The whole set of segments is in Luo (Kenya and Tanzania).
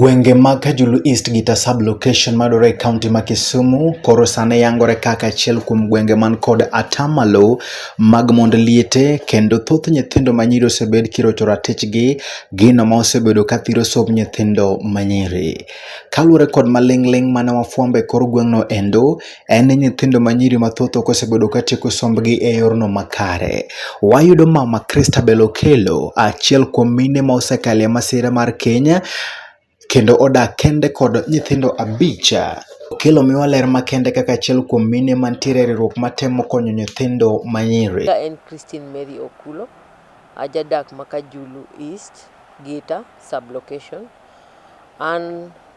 Gwenge mag Kajulu East gi Tasab location madore e kaunti ma Kisumu koro sane yangore kaka achiel kuom gwenge man kod atamalo mag mond liete kendo thoth nyithindo manyiri osebed kirocho ratichgi gino ma osebedo ka thiro somb nyithindo manyiri. Kaluwore kod maling'ling' mane wafwambo e kor gweng'no endo, en ni nyithindo ma nyiri mathoth ok osebedo ka tieko sombgi e yorno makare. Wayudo mama Christabel Okello, achiel kuom mine ma osekale masira mar Kenya, kendo odak kende kod nyithindo abich. Okello miwa ler makende kaka achiel kuom mine mantiere e riwruok matemo konyo nyithindo ma nyiri. Ka en Christine Mary Okulo, ajadak ma Kajulu East, Gita, Sub-location. An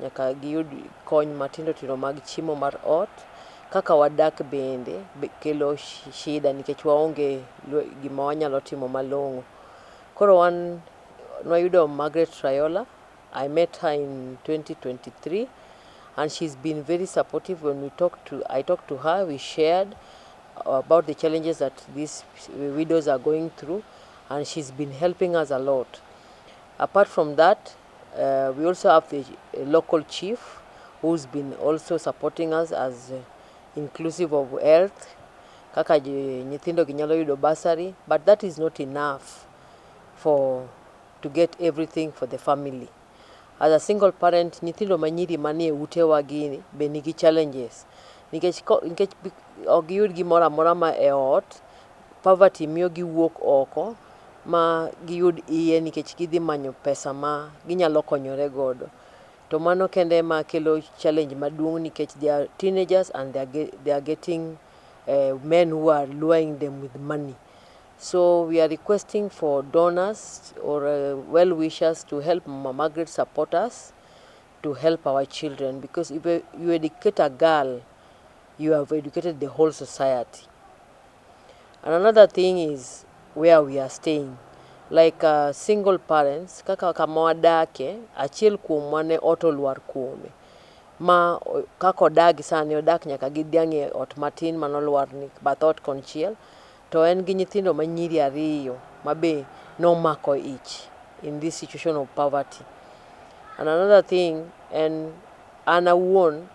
Nyaka giyud kony matindo tindo mag chiemo mar ot, kaka wadak bende kelo shida nikech waonge gima wanyalo timo malong'o. Koro wan nwayudo Margaret Rayola, I met her in 2023 and she's been very supportive when we talked to, I talked to her, we shared about the challenges that these widows are going through and she's been helping us a lot. Apart from that, Uh, we also have the uh, local chief who's been also supporting us as uh, inclusive of health kaka nyithindo gi nyalo yudo basari but that is not enough for to get everything for the family as a single parent nyithindo manyiri manie utewa gi be nigi challenges nikech nikech ok giyud gimoro amora ma e ot Poverty miyo giwuok oko ma giyud iye nikech gidhi manyo pesa ma ginyalo konyore godo. To mano kende ema kelo challenge maduong' nikech they are teenagers and they are getting men who are luring them with money. So we are requesting for donors or well wishers to help Mama Margaret support us to help our children because if you educate a girl you have educated the whole society. And another thing is where we are staying like uh, single parents kaka kama wadake achiel kuomwa ne ot olwar kuome ma kaka odagi sani odak nyaka gi dhiang' e ot matin mano lwarni bath ot konchiel to en gi nyithindo ma nyiri ariyo ma be nomako ich in this situation of poverty and another thing en an awuon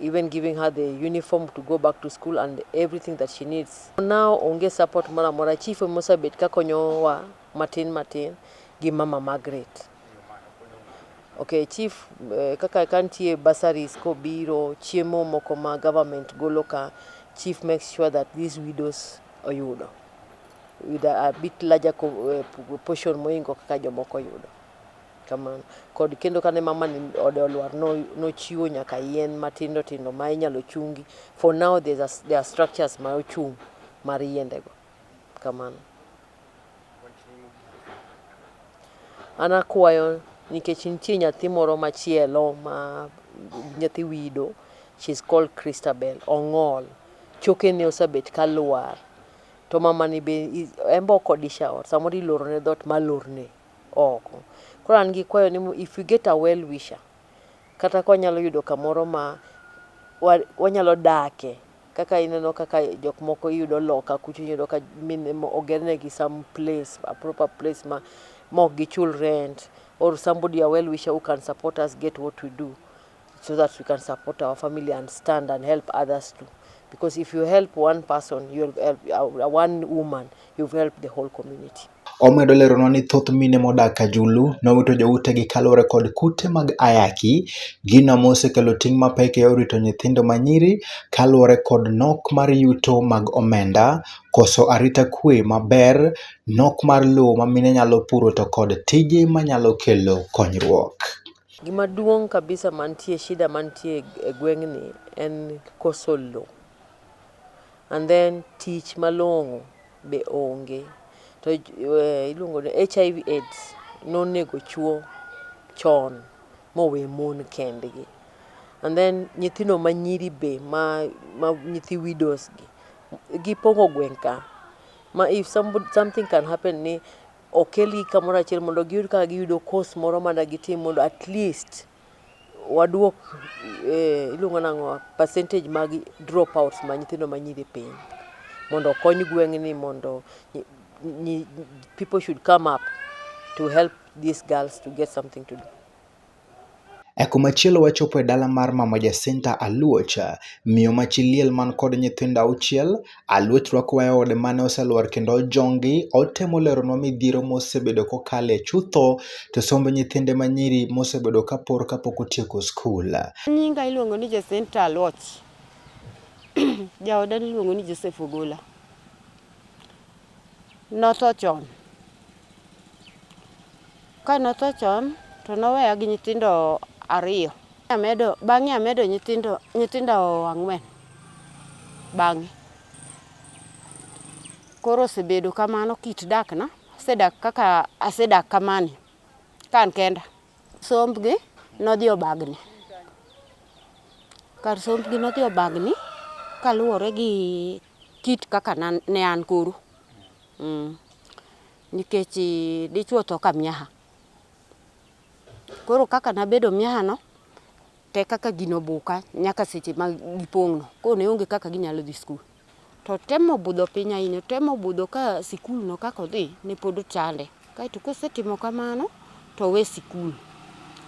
even giving her the uniform to go back to school and everything that she needs. Now onge support moro amora chief mosebet ka konyowa matin matin gi mama Margaret. Okay, chief eh, kaka kantie bursaries kobiro chiemo moko ma government golo ka chief makes sure that these widows oyudo with a, a bit larger eh, portion moingo kaka jomoko yudo. Kamano. Kod kendo kane mamani ode olwar no nochiwo nyaka yien matindo tindo ma inyalo chungi for now there's a, there are structures ma ochung mar yiende go. Kamano. An akwayo nikech nitie nyathi moro machielo ma nyathi wido she's called Christabel Ongol chokene osebet ka lwar to mamani be i- en be ok odisha ot samoro ilorone dhoot malorne oko. Koro an gi kwayo ni if we get a well wisher kata ka wanyalo yudo kamoro ma wanyalo dake kaka ineno kaka jok moko iyudo loka kucho iyudo ka mine oger negi some place a proper place ma ok gichul rent or somebody a well wisher who can support us get what we do so that we can support our family and stand and help others too. Because if you help one person, you help uh, one woman, you've helped the whole community. Omedo leronwa ni thoth mine modak Kajulu nowito joutegi kaluwore kod kute mag ayaki, gino mosekelo ting' mapek e yor rito nyithindo manyiri kaluwore kod nok mar yuto mag omenda, koso arita kwe maber, nok mar lowo ma mine nyalo puro to kod tije manyalo kelo konyruok. Gima duong' kabisa mantie shida mantie e gweng'ni en koso low and then tich malong'o be onge to eh, iluongo ni HIV AIDS nonego chuo chon mowe mon kendgi and then nyithindo manyiri be ma, ma nyithi widows gi gipongo gweng' ka ma if somebody, something can happen ni okelgi kamoro achiel mondo giyud kaka giyudo course moro ma da gitim mondo at least waduok eh, iluongo nang'o percentage mag drop outs ma nyithindo ma nyiri piny mondo okony gweng'ni mondo nyi- nyi- people should come up to help these girls to get something to do E komachielo wachopo e dala mar mama Jacinta Aluoch, miyo ma chi liel man kod nyithindo auchiel. Aluoch rwakowa e ode mane oselwar kendo ojongi. Otemo leronwa midhiero mosebedo kokale chutho to somb nyithinde ma nyiri mosebedo ka por kapok otieko skul. Nyinga iluongo ni Jacinta Aluoch. Jaoda niluongo ni Joseph Ogola. notho chon. Ka notho chon to noweya gi nyithindo ariyo. Amedo, bang'e amedo nyithindo, nyithindo ang'wen bang'e. Koro osebedo kamano kit dakna, asedak kaka asedak kamani ka an kenda. Sombgi nodhi obagni. Kar sombgi nodhi obagni kaluwore gi Kit kaka ne an koru. Nikech dichwo tho ka miaha. Koro kaka nabedo miaha no, to e kaka gino obuka nyaka seche ma gipong' no. Koro ne onge kaka ginyalo dhi skul. To otemo budho piny ahinya, otemo budho ka sikul no kaka odhi ne pod ochande. Kaeto kosetimo kamano to owe sikul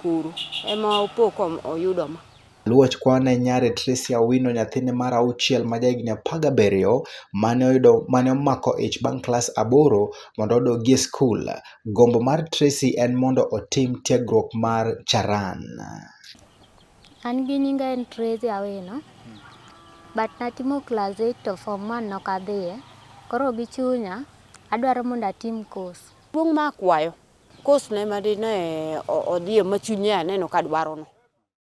koro. Ema opo ka oyudo ma. Aluoch kwane nyare Tricia Owino nyathine mar auchiel ma jahigni apar gabiriyo mane oyudo mane omako ich bang' klas aboro mondo odogi e skul. Gombo mar Tracy en mondo otim tiegruok mar Charan. An gi nyinga en Tracy Awino but natimo class 8 to form 1 nok adhiye. Koro gi chunya adwaro mondo atim course. Duong' ma akwayo course no ema dine odhiye ma chunye aneno ka dwaro no.